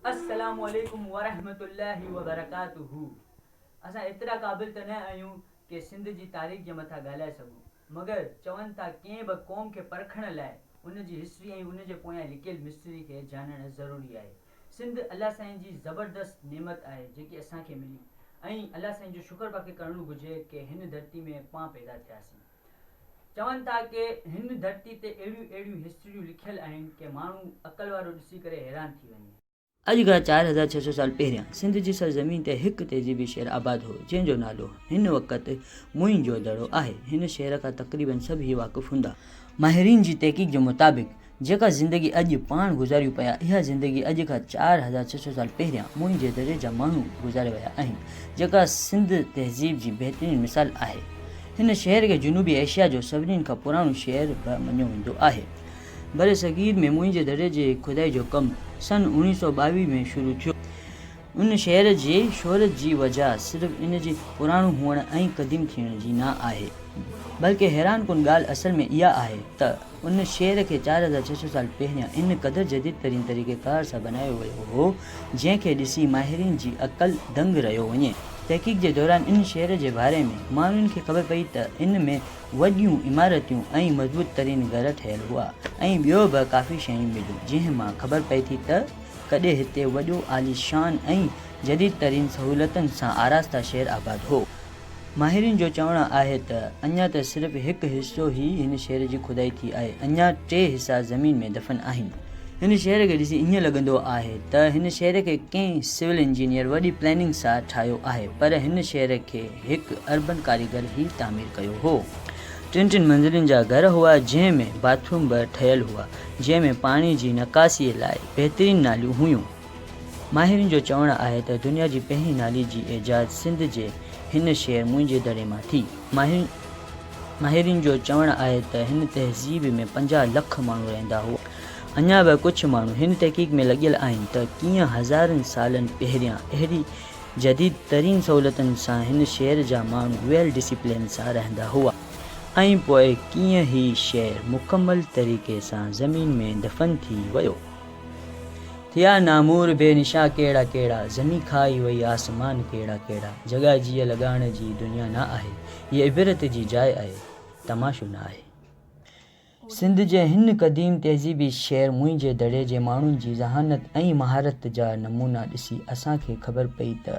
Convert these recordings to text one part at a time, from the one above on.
السلام عليڪم ورحمة الله وبرڪاته اسان ايترا قابل ته نه آهيون ڪي سنڌ جي تاريخ جي مٿان ڳالهائي سگهون مگر چون ٿا ڪنهن به قوم کي پرکڻ لاء ان جي هسٽري ۽ ان جي پويان لڪيل مسٽري کي جاڻڻ ضروري آهي سنڌ الله سائين جي زبردست نعمت آهي جيڪي اسان کي ملي ۽ الله سائين جو شڪر پاکي ڪرڻو گهجي ڪي هن ڌرتي ۾ پان پيدا ٿياسين. چون ٿا ڪي هن ڌرتي تي اهڙيون اهڙيون هسٽريون لکيل آهن ڪي ماڻهو عقل وارو ڏسي ڪري حيران ٿي وڃي. اڄ کان چار هزار ڇهه سو سال پهريان سنڌ جي سرزمين تي هڪ تهذيبي شهر آباد هو جنهن جو نالو هن وقت موئن جو دڙو آهي هن شهر کان تقريبن سڀ ئي واقف هوندا. ماهرين جي تحقيق جي مطابق جيڪا زندگي اڄ پاڻ گذاريون پيا، اها زندگي اڄ کان چار هزار ڇهه سؤ سال پهريان موئن جي دري جا ماڻهو گذاري ويا آهن، جيڪا سنڌ تهذيب جي بهترين مثال آهي. هن شهر کي جنوبي ايشيا جو سڀني کان پراڻو شهر به مڃيو ويندو آهي. برصغير ۾ موئن جي دري جي کدائي جو ڪم سن اوڻيهه سؤ ٻاويهه ۾ شروع ٿيو. ان شهر جي شهرت جي وجه صرف ان جي پراڻو هئڻ ۽ قديم ٿيڻ جي نه آهي، بلڪه حيران ڪن ڳالهه اصل ۾ اها آهي ته ان شهر کي چار هزار ڇهه سؤ سال پهريان ان قدر جديد ترين طريقه ڪار سان بنايو ويو هو، جنهن کي ڏسي ماهرين جي عقل دنگ رهيو وڃي. تحقيق جي دوران ان شهر جي باري ۾ ماڻهن کي خبر پئي ته ان ۾ وڏيون عمارتيون ۽ مضبوط ترين گهر ٺهيل هئا ۽ ٻيو به ڪافي شيون مليون، جنهن مان خبر پئي ٿي ته. ڪڏهن هتي وڏو عاليشان ۽ جديد ترين سهولتن سان آراسته شهر آباد هو. ماهرين جو چوڻ آهي ته اڃا ته صرف هڪ حصو هي هن شهر جي کدائي ٿي آهي اڃا ٽي حصا زمين ۾ دفن آهن. هن شهر کي ڏسي ائين لڳندو آهي ته هن شهر کي ڪنهن سول انجنيئر وڏي پلاننگ سان ٺاهيو آهي پر هن شهر کي هڪ اربن ڪاريگر هي تعمير ڪيو هو. ٽن ٽن منزلين جا گهر هئا جنهن ۾ باٿروم به ٺهيل هئا جنهن ۾ پاڻي جي نڪاسي لاء بهترين ناليون هيون. ماهرن جو چوڻ آهي ته دنيا جي پهرين نالي جي ايجاد سنڌ جي هن شهر منهنجي دڙي مان ٿي. ماهرن ماهرن جو چوڻ آهي ته هن تهذيب ۾ پنجاهه لک ماڻهو رهندا هئا. اڃا به ڪجهه ماڻهو هن تحقيق ۾ لڳيل آهن ته ڪيئن هزارن سالن پهريان اهڙي جديد ترين سهولتن سان هن شهر جا ماڻهو ويل ڊسيپلين سان رهندا هئا. ۽ پوء ڪيئن هي شهر مڪمل طريقي سان زمين ۾ دفن ٿي ويو. ٿيا نامور بي نشا ڪهڙا ڪهڙا، زمين کائي وئي آسمان ڪهڙا ڪهڙا، جڳا جيء لڳاڻ جي دنيا نه آهي، هيء عبرت جي جاء آهي، تماشو نه آهي. سنڌ جي هن قديم تهذيبي شهر موئن جي دڙي جي ماڻهن جي ذهانت ۽ مهارت جا نمونا ڏسي اسان کي خبر پئي ته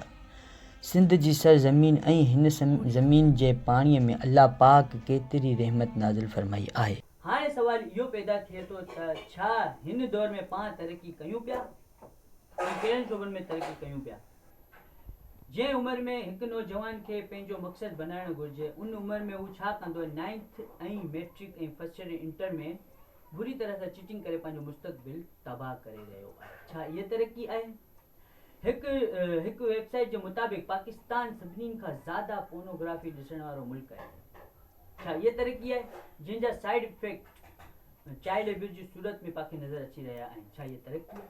سنڌ جي سر زمين ۽ هن زمين جي پاڻي ۾ الله پاڪ ڪيتري رحمت نازل فرمائي آهي. هاڻي سوال اهو پيدا ٿئي ٿو ته ڇا هن دور ۾ پاڻ ترقي ڪيون پيا ۽ ڪهڙن شعبن ۾ ترقي ڪيون پيا؟ جنهن عمر ۾ هڪ نوجوان کي پنهنجو مقصد بنائڻ گهرجي ان عمر ۾ هو ڇا ڪندو ۽ ninth ۽ matric ۽ first year ۽ inter ۾ بري طرح سان چٽنگ ڪري پنهنجو مستقبل تباهه ڪري رهيو آهي ڇا اها ترقي آهي هڪ هڪ ويب سائيٽ جي مطابق پاڪستان سڀني کان زياده پونوگرافي ڏسڻ وارو ملڪ آهي ڇا اها ترقي آهي جنهن جا سائيڊ افيڪٽ چائلڊ ابيوز جي صورت ۾ پاکي نظر اچي رهيا آهن ڇا اها ترقي آهي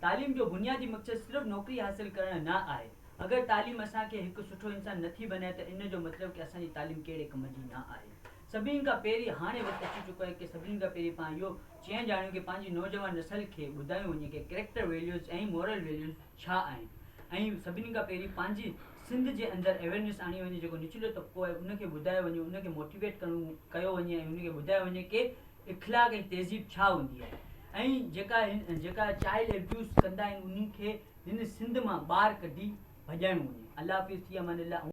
تعليم جو بنيادي مقصد صرف نوڪري حاصل ڪرڻ نه آهي. اگر تعليم اسان کي هڪ سٺو انسان نه ٿي بنائي ته ان جو مطلب ڪي اسان جي تعليم ڪهڙي ڪم جي نه آهي. سڀني کان پهرين هاڻي وقت اچي چڪو آهي ڪي سڀني کان پهرين پاڻ اهو چيڻ ڄاڻيون ڪي پنهنجي نوجوان نسل کي ٻڌايون وڃي ڪي ڪريڪٽر ويليوز ۽ مورل ويليوز ڇا آهن ۽ سڀني کان پهرين پنهنجي سنڌ جي اندر اويرنيس آڻي وڃي جيڪو نچلو طبقو آهي ان کي ٻڌايو وڃي ان کي موٽيويٽ ڪرڻو ڪيو وڃي ۽ ان کي ٻڌايو وڃي ڪي اخلاق ۽ تهذيب ڇا هوندي آهي ۽ جيڪا جيڪا چائلڊ ابيوز ڪندا آهن انهن کي هن سنڌ مان ٻاهر ڪڍي ڀڄائڻو وڃي الله حافظ ٿي امان الله